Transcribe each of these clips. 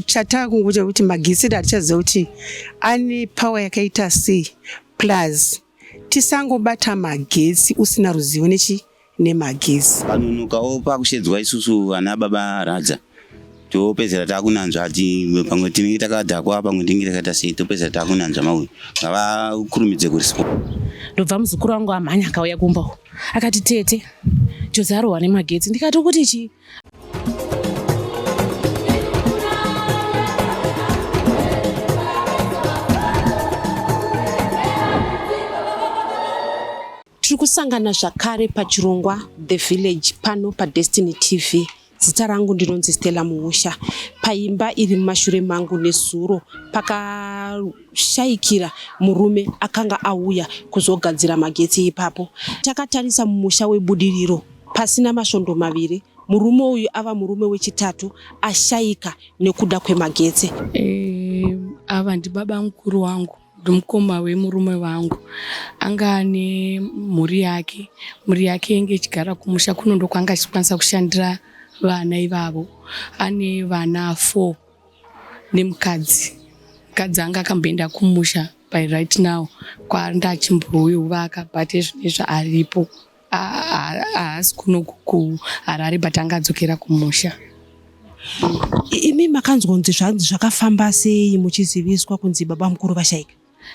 chataakungoita kuti magitsiri hatichaziva kuti ane power yakaita sei plus tisangobata magetsi usina ruzivo nechi nemagetsi panonokawo pakushedzwa isusu vana baba radza topedzera takunanzva ati pamwe tinenge takadhakwa pamwe tinenge takaita sei topedzera takunanzva mauyu ngavakurumidze kuriswa ndobva muzukuru wangu amhanya akauya kumba akati tete jozarwa nemagetsi ndikati kuti chii tiri kusangana zvakare pachirongwa the village pano padestiny tv zita rangu ndinonzi stella muusha paimba iri mumashure mangu nezuro pakashayikira murume akanga auya kuzogadzira magetsi ipapo takatarisa mumusha webudiriro Pasina masvondo maviri, murume uyu ava murume wechitatu ashaika nekuda kwemagetsi. E, ava ndibaba mukuru wangu ndimukoma wemurume vangu anga ane mhuri yake mhuri yake inge ichigara kumusha kuno ndokwanga achikwanisa kushandira vana ivavo ane vana four nemukadzi mukadzi anga akamboenda kumusha by right now kwaanda achimbouyo vaka but ezvinezvi aripo haasi kuno kuharare but anga adzokera kumusha imi makanzwa kunzi zvanzi zvakafamba sei muchiziviswa kunzi baba mukuru vashaika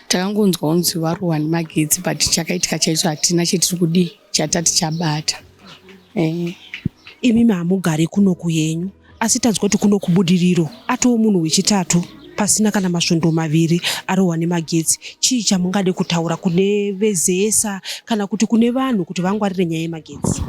takangonzwa kunzi varohwa nemagetsi but chakaitika chaicho hatina chetiri kudii chatati chabata eh. imi mahamugari kunoku yenyu asi tanzwa kuti kuno kubudiriro atowo munhu wechitatu pasina kana masvondo maviri arohwa nemagetsi chii chamungade kutaura kune vezesa kana kuti kune vanhu kuti vangwarire nyaya yemagetsi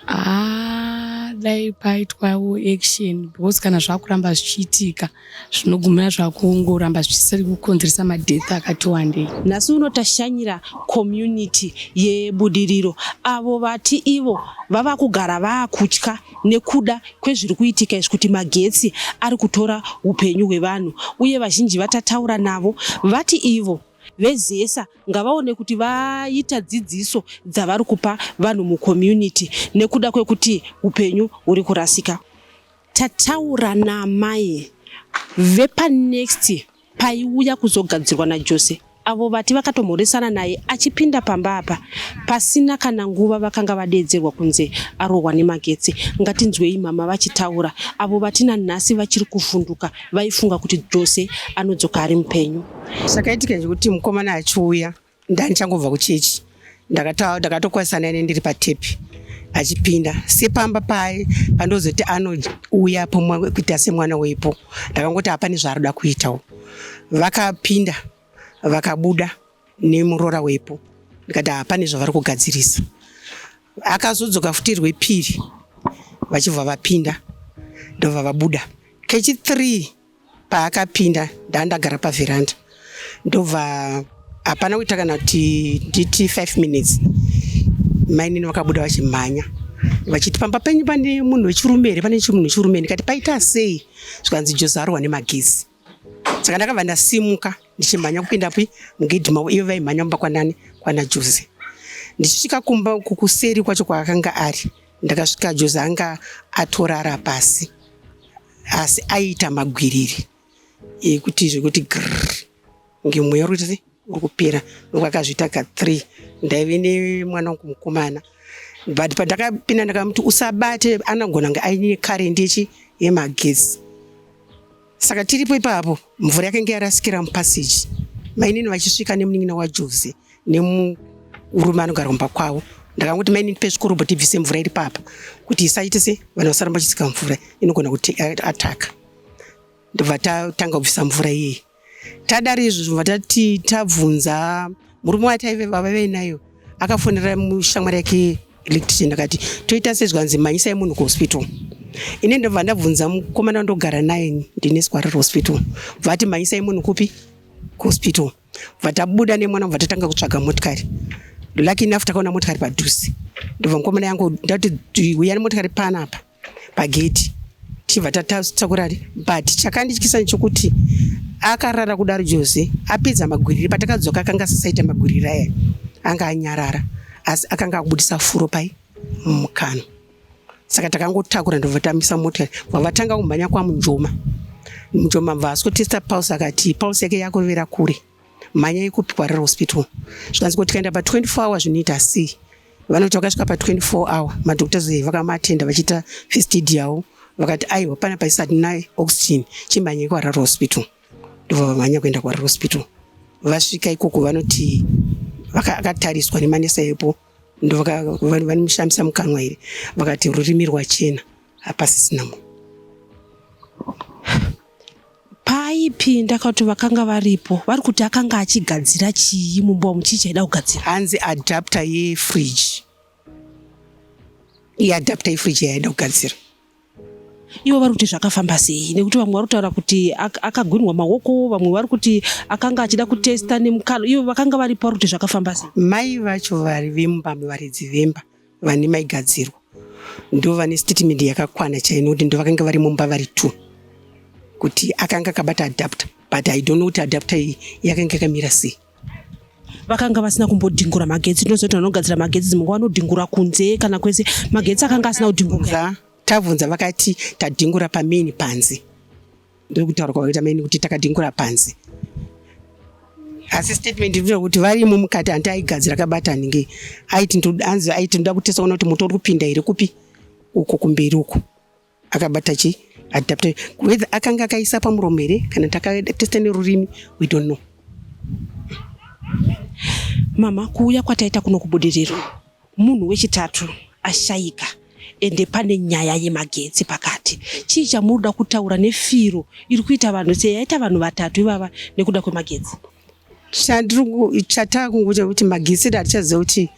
ah, dai paitwawo action because kana zvakuramba zvichiitika zvinogumira zvakungoramba zvichisiri kukonzeresa madeath akati wandei nhasi uno tashanyira community yebudiriro avo vati ivo vava kugara vaakutya nekuda kwezviri kuitika izvi kuti magetsi ari kutora upenyu hwevanhu uye vazhinji vatataura navo vati ivo vezesa ngavaone kuti vaita dzidziso dzavari kupa vanhu mucommunity nekuda kwekuti upenyu huri kurasika Tataura naamai vepanext paiuya kuzogadzirwa naJose avo vati vakatomhoresana naye achipinda pamba apa pasina kana nguva vakanga vadeedzerwa kunze arohwa nemagetsi ngatinzwei mama vachitaura avo vati nanhasi vachiri kuvhunduka vaifunga kuti jose anodzoka ari mupenyu zvakaitika zvekuti mukomana achiuya ndandichangobva kuchechi ndakatokwazisa naine ndiri patepi achipinda sepamba paye pandozoti anouya pomwe kuita semwana weipo ndakangoti hapane zvaarikuda kuitawo vakapinda vakabuda nemuroora wepo ndikati hapane zvavari kugadzirisa akazodzoka futi rwepiri vachibva vapinda ndobva vabuda kechithree paakapinda ndaandagara pavheranda ndobva hapana kuita kana kuti nditi five minutes mainini vakabuda vachimhanya vachiti pamba penyu pane munhu wechirume here pane chimunhu wechirume ndikati paita sei zvikanzi jozarwa nemagezi saka ndakabva ndasimuka ndichimhanya kupinda pi mugedhi mavo ivo vaimhanya kumba kwanani kwana jose ndichisvika kumba kukuseri kwacho kwaakanga ari Ndakasvika Joze anga atorara pasi asi aiita magwiriri ekuti zvekuti grrr kunge mweya uri kuita uri kupera ndoku akazviita ka three ndaive nemwana wangu mukomana but pandakapinda ndakamuti usabate anogona kunge aine karendi yechi yemagesi Saka tiripo ipapo mvura yakanga yarasikira mupassage mainini vachisvika nemunin'ina waJose nemurume anogara kumba kwavo ndakanguti mainini pezvikorobho tibvise mvura iri papa kuti isaite se vanhu vasaramba vachisika mvura inogona kuti ataka ndobva tatanga kubvisa mvura iyeyi tadari izvozvo vatati tabvunza murume wataive vava vainayo akafonera shamwari yake electrician akati toita sezvanzi mhanyisai munhu kuhospital ine ndobva ndabvunza mukomana ndogara naye ndine swariro hospital vati mhanyisai munhu kupi kuhospital vatabuda nemwana bva tatanga kutsvaga motikari lucky enough takaona motikari padhuze ndobva mukomana yangu ndati huya nemotikari panapa pagedhi tichibva tatakurari but chakandityisa nechokuti akarara kudaro jose apedza magwiriri patakadzoka akanga asisaita magwiriri aya anga anyarara asi akanga akubudisa furo pai mukano saka takangotakura ndovatambisa mota vavatanga kumhanya kwamunjoma munjoma bva asotesta pulse akati pulse yake yakurevera kure mhanyai kupi kwariro hospital zvikanzi ko tikaenda pa 24 hour zvinoita sei vanoti vakasvika pa 24 hour madoctors eh, vakamaatenda vachiita first aid yavo vakati aiwa pana paisati naye oxygen chimhanyai kwariro hospital ndobva vamhanya kuenda kwariro hospital vasvika ikoko vanoti vakatariswa nemanesa epo ndovanomushamisa mukanwa here vakati rurimi rwachena hapasisina munhu Paaipinda kana kuti vakanga varipo vari kuti akanga achigadzira chii mumba umu chii chaida kugadzira? Hanzi adapter yefridge. Iye adapter yefridge yaida kugadzira. Ivo vari kuti zvakafamba sei nekuti vamwe vari kutaura kuti ak- akagwinwa maoko vamwe vari kuti akanga achida kutesta nemukalo ivo vakanga varipo vari kuti zvakafamba sei? Mai vacho vari vemumba muvaridzi vemba vane maigadzirwa ndo vane statement yakakwana chaino kuti ndo vakanga vari mumba vari two kuti akanga akabata adapter but i don't know kuti adapter iyi yakanga yakamira sei vakanga vasina kumbodhingura magetsi ndozoti vanogadzira magetsi dzimwe nguva vanodhingura kunze kana kwese magetsi akanga asina kudhingura tabvunza vakati tadhingura pamain panze ndiri kutaura kwakaita maini kuti takadhingura panze asi statement iri kuti varimo mukati hanti aigadzira kabata ninge aiti ndodanzi aiti ndoda kutesa kuona kuti moto uri kupinda here kupi uko kumberi uko akabata chi adapte whether akanga akaisa pamuromo here kana takatesta nerurimi we don't know mama kuuya kwataita kuno kubudiriro Munhu wechitatu ashaika ende pane nyaya yemagetsi pakati. Chii chamunoda kutaura nefiro iri kuita vanhu seyaita vanhu vatatu ivava nekuda kwemagetsi? Chatava kungoita kuti magetsi edu hatichaziva kuti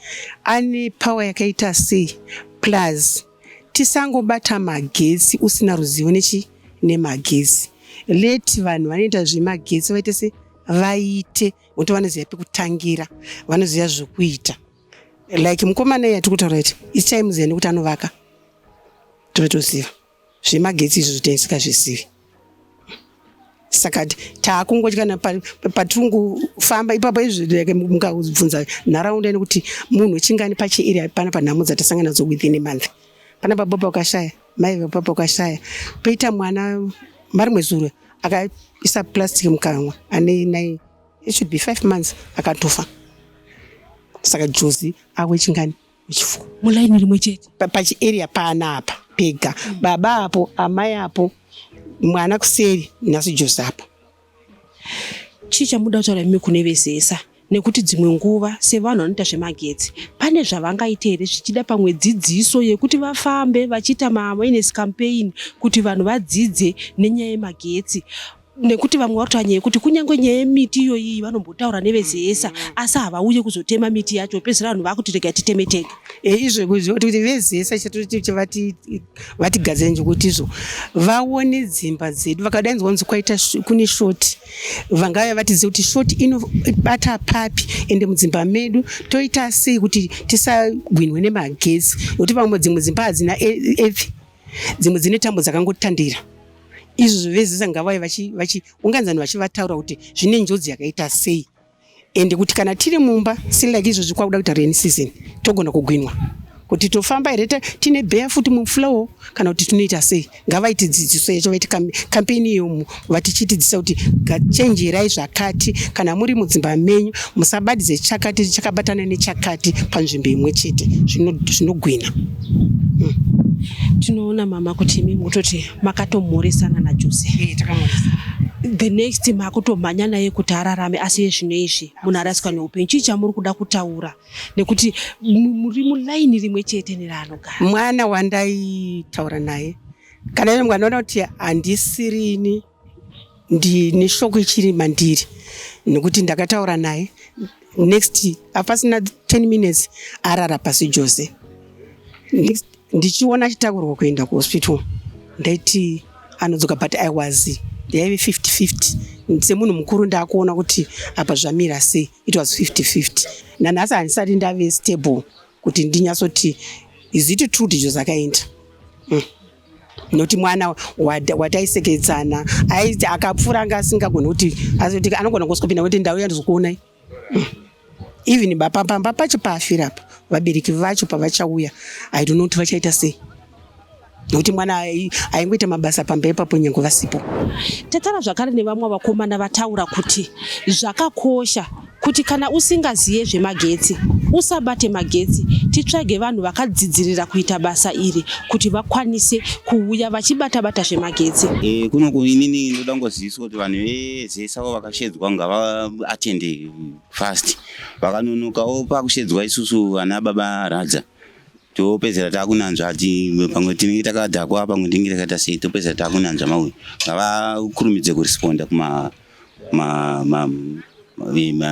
ane pawa yakaita sei plus tisangobata magetsi usina ruzivo nechi nemagetsi leti vanhu vanoita zvemagetsi vaite se vaite kuti vanoziva pekutangira vanoziva zvekuita like mukomana iye atikutaura iti its times yende kuti anovaka totoziva zvemagetsi izvo zvotensika zvisivi saka taakungotyana patirikufamba ipapo izvike mukabvunza nharaunda ine kuti munhu chingani pachiiri hapana panhamo dzatasangana nadzo within a month pana baba pakashaya mai vapa pakashaya poita mwana mari mwezuro akaisa plastic mukanwa ane nai it should be five months akatofa saka jozi awe chingani wechifuwo mulaini rimwe chete pachiarea paana apa pega mm. baba apo amai apo mwana kuseri nhasi jozi apo chii chamuda kutaura imi kune vezesa nekuti dzimwe nguva sevanhu vanoita zvemagetsi pane zvavangaite here zvichida pamwe dzidziso yekuti vafambe vachiita maawareness campaign kuti vanhu vadzidze nenyaya yemagetsi nekuti vamwe vari kutaura nyaya yekuti kunyange nyaya yemiti iyoyi vanombotaura nevezesa mm, mm. asi havauye kuzotema miti yacho pedzisira vanhu vakuti rega titeme tega eh, izvo kuti vezesa vatigadzira nekuti izvo vaone dzimba dzedu vakadainzwa kunzi kwaita kune shoti vangave vatiziva kuti shoti inobata papi ende mudzimba medu toita sei kuti tisagwinwe nemagetsi nekuti vamwe dzimwe dzimba hadzina e, e, dzimwe dzine tambo dzakangotandira izvo vezesa ngavai vachiunganzani vachivataura kuti zvine njodzi yakaita sei and kuti kana tiri mumba silike izvozvi kwakuda kuita rain season togona kugwinwa kuti tofamba here tine beya futi muflow kana kuti tinoita sei ngavaiti dzidziso yacho vaiti kampeni iyo vatichitidzisa kuti chenjerai zvakati kana muri mudzimba menyu musabadidze chakati chakabatana nechakati panzvimbo imwe chete zvinogwina hmm. tinoona mama kuti imi mutoti makatomhoresana najose eh, the next makutomhanya naye kuti ararame asi yezvino izvi munhu arasika neupenyu chii chamuri kuda kutaura nekuti muri mulaini rimwe chete neraanogara mwana wandaitaura naye kana ine mwana unoti handisirini ndine shoko ichiri mandiri nekuti ndakataura naye next apasina 10 minutes arara pasi jose ndichiona achitakurwa kuenda kuhospital ndaiti anodzoka but i was yaive 5050 semunhu mukuru ndaakuona kuti apa zvamira sei it was 5050 nanhasi handisati ndave stable kuti ndinyatsoti is it true kuti zvozakaenda mm. noti mwana wataisekedzana aiti akapfuura anga asingagoni kuti azoti anogona kusvika kuti ndau yandizokuonai mm. even bapapamba pacho paafira apa vabereki vacho pavachauya i don't know kuti vachaita sei nekuti mwana aingoita mabasa pamba ipapo nyange vasipo. Tatara zvakare nevamwe vakomana vataura kuti zvakakosha kuti kana usingaziye zvemagetsi usabate magetsi titsvage vanhu vakadzidzirira kuita basa iri kuti vakwanise kuuya vachibata bata zvemagetsi e, eh, kuno inini ndoda ngoziviswa kuti vanhu vese savo vakashedzwa ngavaatende fast vakanonokawo pakushedzwa isusu vana baba radza topedzera takunanzva ati pamwe tinenge takadhakwa pamwe tinenge takaita sei topedzera takunanzva mauyu ngavakurumidze kuresponda kuma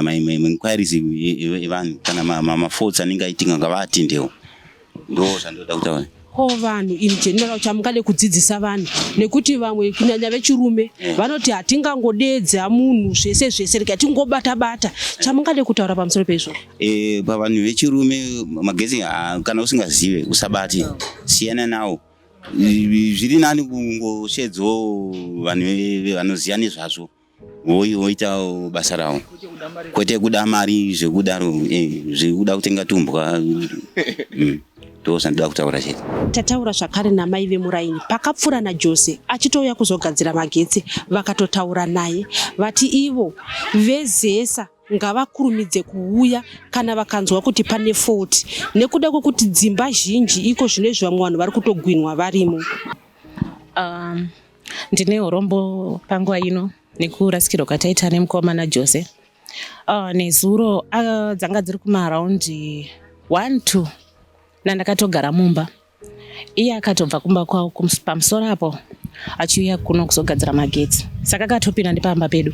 mainquiries evanhu kana mafaults anenge aitinga ngavaatendewo ndo zvandoda kutaura ko vanhu in general chamungade kudzidzisa vanhu nekuti vamwe kunyanya vechirume eh. vanoti hatingangodeedza munhu zvese zvese rega tingobata bata chamungade kutaura pamusoro peizvozvo E, pavanhu vechirume magezi kana usingazive usabati siyana nawo zviri nani kungoshedzwawo vanhu vanoziva nezvazvo voita basa ravo kwete kuda mari zvekudaro eh, zvekuda kutenga tumbwa mm, ndozvandoda kutaura chete tataura zvakare namai vemuraini pakapfuura najose achitouya kuzogadzira magetsi vakatotaura naye vati ivo vezesa ngavakurumidze kuuya kana vakanzwa kuti pane fault nekuda kwekuti dzimba zhinji iko zvino izvi vamwe vanhu vari kutogwinwa varimo um, ndine urombo panguva ino nekurasikirwa kwataita nemukoma najose uh, nezuro uh, dzanga dziri kumaraundi one two nandakatogara mumba iye akatobva kumba kwavo pamusoro apo achiuya kuno kuzogadzira magetsi saka akatopinda ndipamba pedu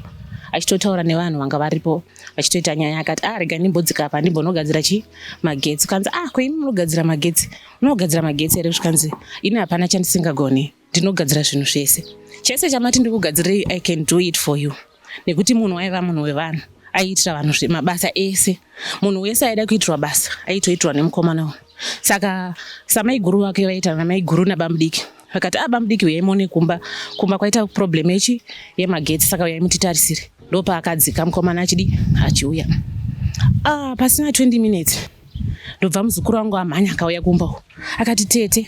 achitotaura nevanhu vanga varipo achitoita nyaya akati ah rega ndimbodzika apa ndimbonogadzira chi magetsi kanzi ah koimi munogadzira magetsi unogadzira magetsi here zvikanzi ini hapana chandisingagoni ndinogadzira zvinhu zvese chese chamati ndikugadzirei i can do it for you nekuti munhu waiva munhu wevanhu aiitira vanhu mabasa ese munhu wese aida kuitirwa basa aitoitirwa nemukomana uyu saka samaiguru vake vaita namaiguru nabamudiki vakati a ah, bamudiki uyai mone kumba kumba kwaita problem yechi yemagetsi saka uyai mutitarisire ndopaakadzika mukomana achidi achiuya ah, pasina 20 minutes ndobva muzukuru wangu amhanya akauya kumba uko akati tete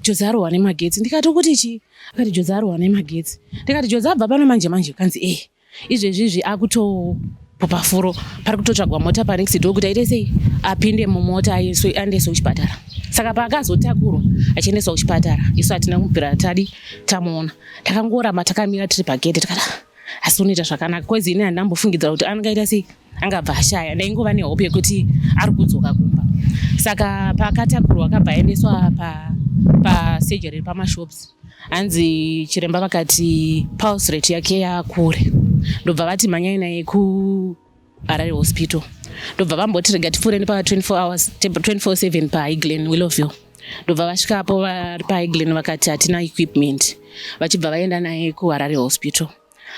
jodzi arohwa nemagetsi ndikati ukuti chii akati jodzi arohwa nemagetsi ndikati jodzi abva pano manje manje kanzi ee eh, izvezvi izvi akutopopa furo pari kutotsvagwa mota panext do kuti aite sei apinde mumota aendeswe kuchipatara saka paakazotakurwa achiendeswa kuchipatara isu hatina kumupira tadi tamuona takangoramba takamira tiri pagedhe tikada asi unoita zvakanaka kwezi ini handina mbofungidzira kuti angaita sei angabva ashaya ndaingova nehope yekuti ari kudzoka kumba saka paakatakurwa akabva aendeswa pasurgery pa pamashops hanzi chiremba vakati pulse rate yake yakure ndobva vati mhanyai naye kuharare hospital ndobva vamboti rega tipfuure nepa 24 hours 24/7 paiglen willowville ndobva vasvikapo vari paiglen vakati hatina equipment vachibva vaenda naye kuharare hospital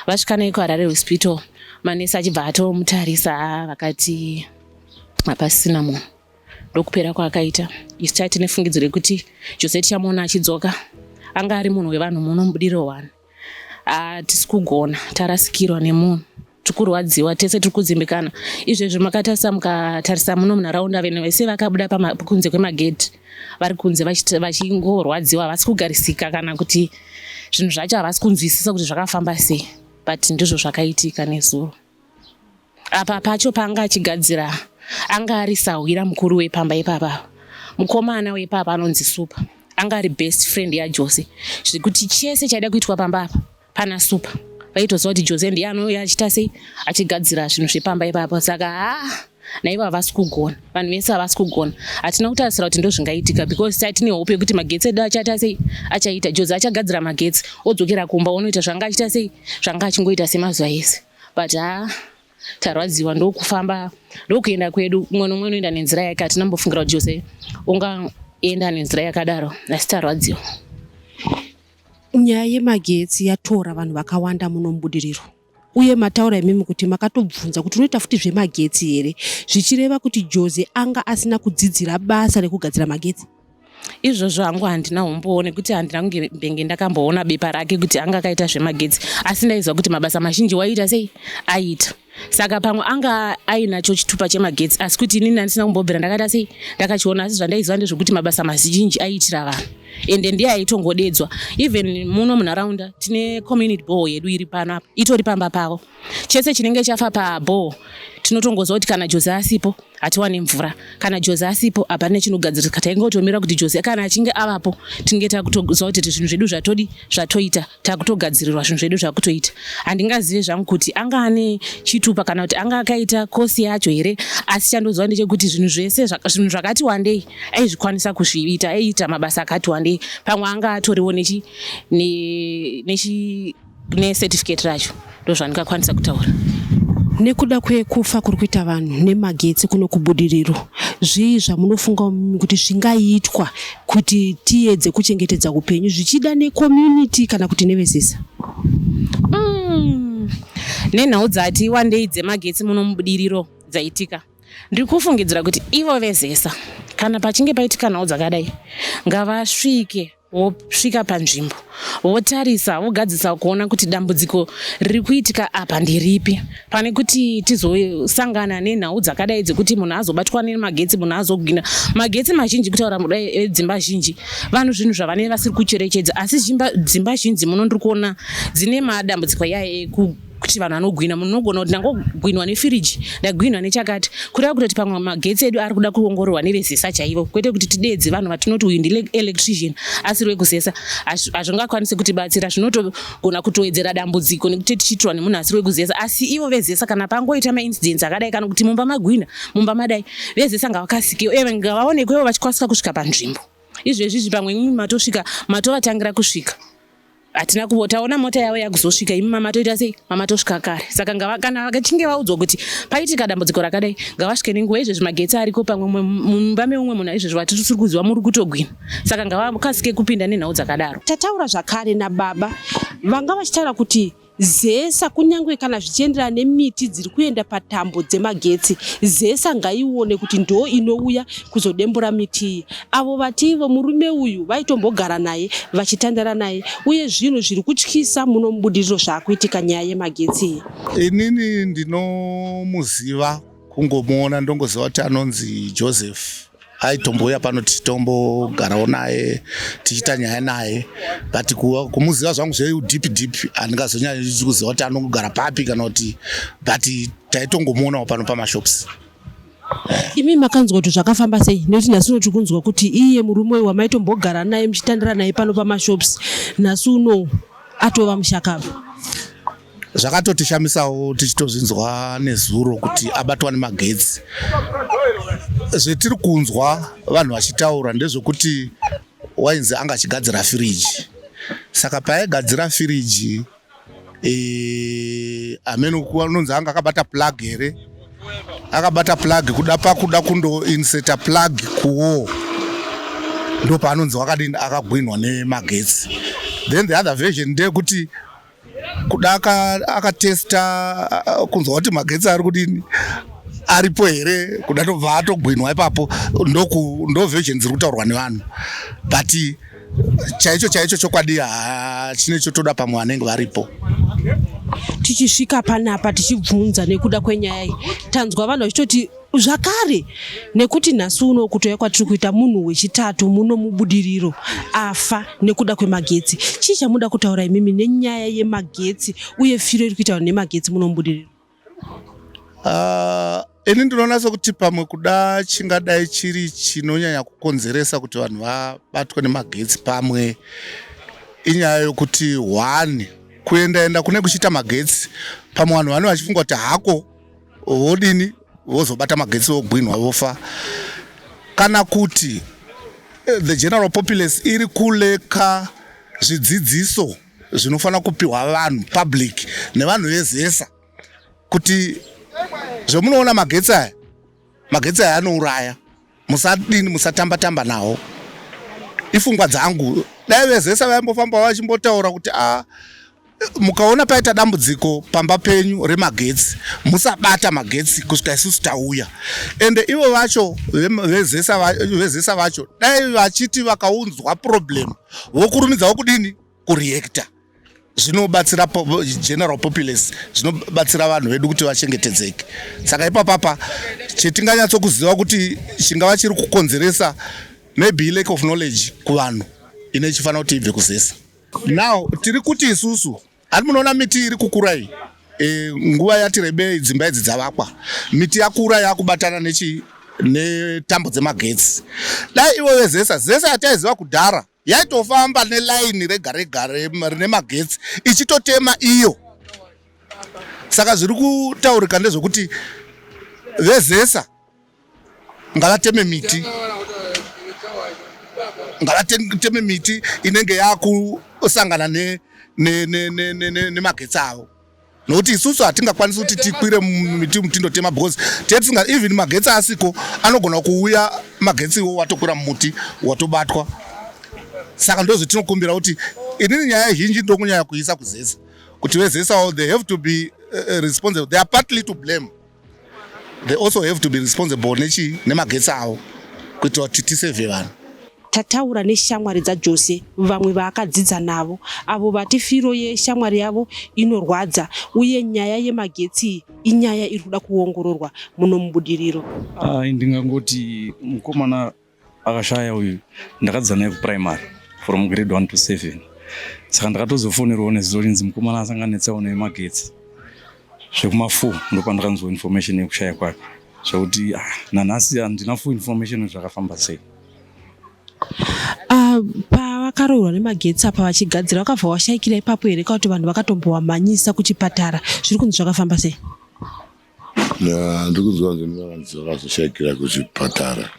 Vasvika naye kuHarare Hospital, manesi achibva atomutarisa vakati hapasisina munhu ndokupera kwaakaita isu taiti nefungidziro yekuti jose tichamuona achidzoka anga ari munhu wevanhu muno mubudiro wani hatisi kugona tarasikirwa nemunhu tiri kurwadziwa tese tiri kudzimbikana izvezvi makatarisa mukatarisa muno munharaunda vene vese vakabuda kunze kwemagedhi vari kunze vachingorwadziwa havasi kugarisika kana kuti zvinhu zvacho havasi kunzwisisa kuti zvakafamba sei but ndizvo zvakaitika nezuro apa pacho paanga achigadzira anga ari sahwira mukuru wepamba ipapa mukomana wepapa anonzi supa anga ari best friend yajose zvekuti chese chaida kuitwa pamba apa Pana Super vaitoziva kuti Jose ndiye anouya achita sei achigadzira zvinhu zvepamba ipapo saka haa ah, naivo havasi kugona vanhu vese havasi kugona hatina kutarisira kuti ndozvingaitika because sai tine hope yekuti magetsi edu achaita sei achaita Jose achagadzira magetsi odzokera kumba onoita zvanga achita sei zvanga achingoita semazuva ese but haa ah, tarwadziwa ndokufamba ndokuenda kwedu umwe nomwe unoenda nenzira yake hatina mbofungira kuti Jose unga enda nenzira yakadaro asi tarwadziwa Nyaya yemagetsi yatora vanhu vakawanda muno muBudiriro uye mataura imimi kuti makatobvunza kuti unoita futi zvemagetsi here zvichireva kuti Joze anga asina kudzidzira basa rekugadzira magetsi? izvozvo hangu handina umbowo nekuti handina kunge benge ndakamboona bepa rake kuti anga akaita zvemagetsi asi ndaiziva kuti mabasa mazhinji waiita sei aiita saka pamwe anga ainacho chitupa chemagetsi asi kuti inini andisina kumbobvira ndakaita sei ndakachiona asi zvandaiziva ndezvekuti mabasa mazhinji aiitira vanhu ende ndiye aitongodedzwa even muno munharaunda tine community ball yedu iri pano apa itori pamba pavo chese chinenge chafa paball tinotongoziva kuti kana jozi asipo hatiwane mvura kana jozi asipo hapane chinogadzirika tainge totomira kuti jozi kana achinge avapo tinge takutoziva kuti zvinhu zvedu zvatodi zvatoita takutogadzirirwa zvinhu zvedu zvakutoita handingazive zvangu kuti anga ane chitupa kana kuti anga akaita kosi yacho here asi chandoziva ndechekuti zvinhu zvese zvinhu zvakati wandei aizvikwanisa kuzviita aiita mabasa akati wandei pamwe anga atoriwo nechi nechi necertificate racho ndozvandingakwanisa kutaura nekuda kwekufa kuri kuita vanhu nemagetsi kuno kubudiriro zvii zvamunofunga kuti zvingaitwa kuti tiyedze kuchengetedza upenyu zvichida necommunity kana kuti nevesisa mm. nenhau dzati wandei dzemagetsi muno mubudiriro dzaitika ndiri kufungidzira kuti ivo vezesa kana pachinge paitika nhau dzakadai ngavasvike vosvika panzvimbo votarisa vogadzisa kuona kuti dambudziko riri kuitika apa ndiripi pane kuti tizosangana nenhau dzakadai dzekuti munhu azobatwa nemagetsi munhu azogwina magetsi mazhinji kutaura mudai edzimba zhinji vanhu zvinhu zvavanee vasiri kucherechedza asi dzimba zhinji muno ndiri kuona dzine madambudziko yaye kuti vanhu vanogwina munhu unogona kuti ndangogwinwa nefiriji ndagwinwa nechakati kureva kutoti pamwe magetsi edu ari kuda kuongororwa nevezesa chaivo kwete kuti tideedze vanhu vatinoti uyu ndielectrician asiri wekuzesa hazvingakwanise kutibatsira zvinotogona kutowedzera dambudziko nekuti tichiitirwa nemunhu asiri wekuzesa asi ivo vezesa kana pangoita maincidence akadai kana kuti mumba magwina mumba madai vezesa ngavakasikewo uye ngavaonekwewo vachikwanisa kusvika panzvimbo izvezvi izvi pamwe imi matosvika matovatangira kusvika hatina kuvo taona mota yavo yakuzosvika imi mama toita sei mama tosvika kare saka kana vakachinge vaudzwa kuti paitika dambudziko rakadai ngavasvike nenguva izvezvi magetsi ariko pamwe mumba meumwe munhu aizvezvi vatisiri kuziva muri kutogwina saka ngavakasike kupinda nenhau dzakadaro tataura zvakare nababa vanga vachitaura kuti Zesa kunyange kana zvichienderana nemiti dziri kuenda patambo dzemagetsi, Zesa ngaione kuti ndoo inouya kuzodembura miti iyi. Avo vati ivo murume uyu vaitombogara naye, vachitandara naye uye zvinhu zviri kutyisa muno mubudiriro zvaakuitika nyaya yemagetsi iyi. Inini ndinomuziva kungomuona ndongoziva kuti anonzi joseph aitombouya pano tichitombogarawo naye tichiita nyaya naye but kumuziva zvangu zveudip dip handingazonyanyi kuziva kuti anongogara papi kana kuti but taitongomuonawo pano pamashops imi makanzwa kuti zvakafamba sei nekuti nhasi uno tiri kunzwa kuti iye murume uyu wamaitombogara naye muchitandira naye pano pamashops nhasi uno atova mushakava zvakatotishamisawo tichitozvinzwa nezuro kuti abatwa nemagetsi zvetiri kunzwa vanhu vachitaura ndezvekuti wainzi anga achigadzira firiji saka paaigadzira firiji e, amene anonzi anga akabata plug here akabata plug kuda pakuda kundoinseta plug kuwo ndo paanonzi wakadini akagwinhwa nemagetsi then the other version ndeyekuti kuda akatesta uh, kunzwa kuti magetsi ari kudini aripo here kuda tobva atogwinwa ipapo ndoversions iri kutaurwa nevanhu but chaicho chaicho chokwadi chine chotoda pamwe vanenge varipo tichisvika panapa tichibvunza nekuda kwenyaya iyi tanzwa vanhu vachitoti zvakare nekuti nhasi uno kutouya kwatiri kuita munhu wechitatu muno mubudiriro afa nekuda kwemagetsi chii chamuda kutaura imimi nenyaya yemagetsi uye firo iri kuitaura nemagetsi muno mubudiriro ah, ini ndinoona sekuti pamwe kuda chingadai chiri chinonyanya kukonzeresa kuti vanhu vabatwe nemagetsi pamwe inyaya yokuti one kuendaenda kune kuchiita magetsi pamwe vanhu vanenge vachifunga kuti hako vodini vozobata magetsi vogwinhwa vofa kana kuti eh, the general populace iri kuleka zvidzidziso zvinofanira kupiwa vanhu public nevanhu vezesa kuti zvemunoona magetsi aya magetsi aya anouraya musadini musatamba tamba nawo ifungwa dzangu dai vezesa vaimbofamba vachimbotaura kuti a ah, mukaona paita dambudziko pamba penyu remagetsi musabata magetsi kusvika isusu tauya ende ivo vacho vezesa vacho dai vachiti vakaunzwa problem vokurumidza wokudini kureactor zvinobatsira general populace zvinobatsira vanhu vedu kuti vachengetedzeke saka ipapapa chetinganyatsokuziva kuti chingava chiri kukonzeresa maybe lack of knowledge kuvanhu ine chifanira kuti ibve kuzesa now tiri kuti isusu hati munoona miti iri kukura iyi e, nguva yati rebei dzimba idzi dzavakwa miti yakura yakubatana nechi netambo dzemagetsi dai ivo vezesa zesa yataiziva kudhara yaitofamba nelaini rega rega rine magetsi ichitotema iyo saka zviri kutaurika ndezvekuti vezesa ngavateme miti ngavateme miti inenge yakusangana nemagetsi avo nokuti isusu hatingakwanisi kuti tikwire miti mutindo tema because tee tisinga even magetsi asiko anogona kuuya magetsi iwo watokwira mumuti watobatwa saka ndozvo tinokumbira kuti inini nyaya zhinji ndokunyaya kuisa kuzesa kuti vezesawo they have to be uh, responsible they are partly to blame they also have to be responsible nechi nemagetsi avo kuitira kuti tisevhe vanhu tataura neshamwari dzajose vamwe vaakadzidza navo avo vati firo yeshamwari yavo inorwadza uye nyaya yemagetsi inyaya iri kuda kuongororwa muno mubudiriro ah, ndingangoti mukomana Akashaya uyu ndakadzidza naye kuprimary from grade 1 to 7 saka ndakatozofonerwawo nezuro linzi mukomana asanga netsawo nemagetsi zvekuma 4 ndopandakanzwa information yekushaya kwake zvekuti ah, nanhasi handina full information zvakafamba sei ah, pavakarohwa nemagetsi apa vachigadzira vakabva washaikira ipapo here kakuti vanhu vakatombowamhanyisa kuchipatara zviri kunzi zvakafamba sei Ndiri kuziva kuti mune vanhu vakazoshaikira kuzvipatara.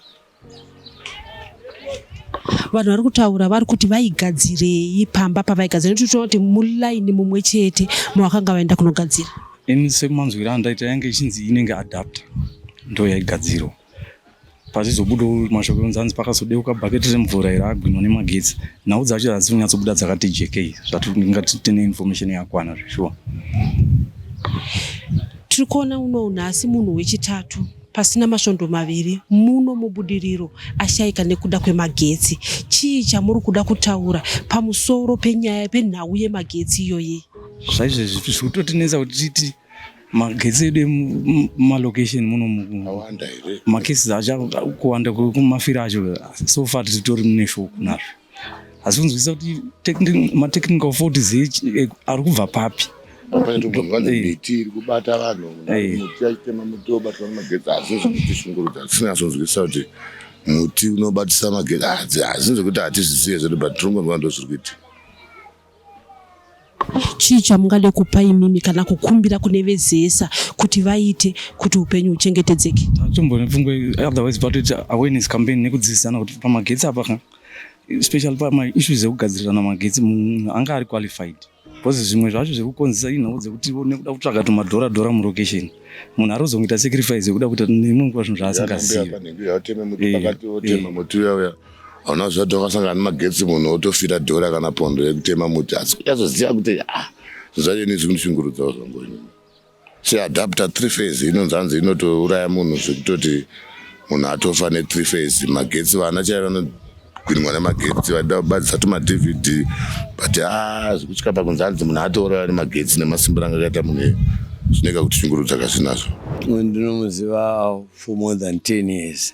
Vanhu vari kutaura vari kuti vaigadzirei pamba pavaigadzira nekuti tinoona kuti mulaini mumwe chete mavakanga vaenda kunogadzira. Ini semanzwiro andaita yange ichinzi inenge adapter ndo yaigadzirwa. pachizobudawo mashoko ekunzi hanzi pakazodeuka bhaketi remvura iri agwinwa nemagetsi nhau dzacho hadzisi kunyatsobuda dzakati jekei zvatingati tine information yakwana zveshuwa tiri kuona uno nhasi munhu wechitatu pasina masvondo maviri muno mubudiriro ashaika nekuda kwemagetsi chii chamuri kuda kutaura pamusoro penyaya penhau yemagetsi iyoyi zvaizvezvi zviri kutotinetsa kuti titi magetsi edu mumalocation muno awanda here macases acha kuwanda kumafira acho so far titori mune shoko nazvo asi kunzwisisa kuti matechnical faults eh, ari kubva papi miti iri kubata vanhu muti achitema muti wobatwa nemagetsi asi zvinotisungurudza tisinazonzwisisa kuti muti unobatisa magetsi asi nzekuti hatizvisiye zvedu but tirongonwa ndozviri kuitika chii chamungade kupa imimi kana kukumbira kune vezesa kuti vaite kuti upenyu huchengetedzeke tombonepfungwe otherwise but it awareness campaign nekudzidzisana kuti pamagetsi apa ka especially pamaissues ekugadzirirana magetsi munhu anga ari qualified because zvimwe zvacho zvekukonzesa inhau dzekuti nekuda kutsvaga tumadhora dhora mulocation munhu ari kuzongoita sacrifice yekuda kuita nemwe nguva zvinhu zvaasingazivi Ona zvati wakasangana nemagetsi munhu otofira dhora kana pondo yekutema muti asi kuyazoziva kuti ah zvacho ini zvikunishungurudzawo zvangu ini seadapter three phase inonzi hanzi inotouraya munhu zvekutoti munhu atofa nethree phase magetsi vana chai vanogwinwa nemagetsi vaida kubadisa tumadvd but a ah, zvekutya pakunzi hanzi munhu atouraya nemagetsi nemasimbiro anga akaita munhu iye zvineka kutishungurudza kazvinazvo ndinomuziva for more than ten years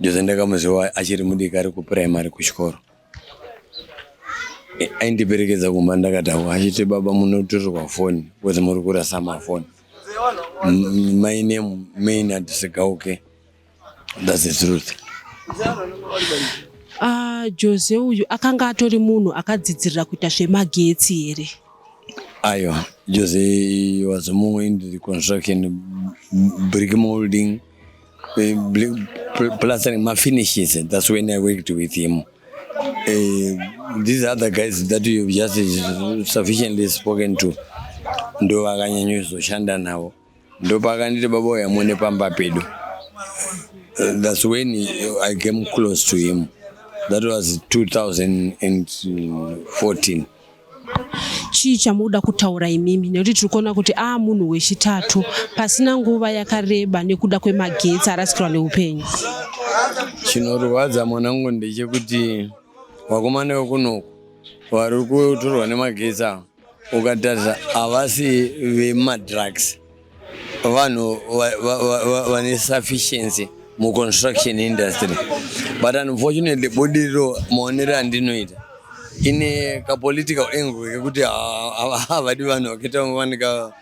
Jose ndakamuziva achiri mudiki ari kupuraimari kuchikoro aindiperekedza kumba ndakadhakwa achiti baba munotorerwa foni bcause muri kurasa mafoni my name main adisegauke thats the truth uh, jose uyu akanga atori munhu akadzidzirira kuita zvemagetsi here aiwa jose was mumwe in the construction brick molding uh, plastering my finishes that's when i worked with him uh, these other guys that you just sufficiently spoken to ndo vakanyanyozoshanda navo ndo pakanditi baba uya mune pamba pedu uh, that's when i came close to him that was 2014 chii chamunoda kutaura imimi nekuti tiri kuona kuti aa ah, munhu wechitatu pasina nguva yakareba nekuda kwemagetsi arasikirwa neupenyu chinorwadza mwanangu ndechekuti vakomana vekunoku vari kutorwa nemagetsi ava ukatarisa havasi vemadrugs vanhu vane sufficiency muconstruction industry but unfortunately budiriro maonero andinoita ine kapolitical angle kekuti havadi vanhu vakaita vanika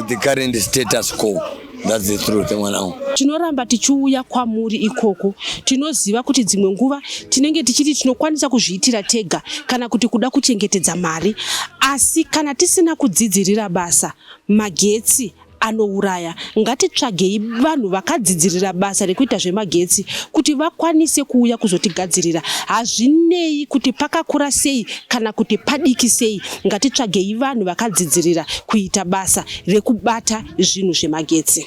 the current status quo that's the truth mwanangu tinoramba tichiuya kwamuri ikoko tinoziva kuti dzimwe nguva tinenge tichiti tinokwanisa kuzviitira tega kana kuti kuda kuchengetedza mari asi kana tisina kudzidzirira basa Magetsi anouraya. Ngatitsvagei vanhu vakadzidzirira basa rekuita zvemagetsi kuti vakwanise kuuya kuzotigadzirira. Hazvinei kuti pakakura sei kana kuti padiki sei, ngatitsvagei vanhu vakadzidzirira kuita basa rekubata zvinhu zvemagetsi.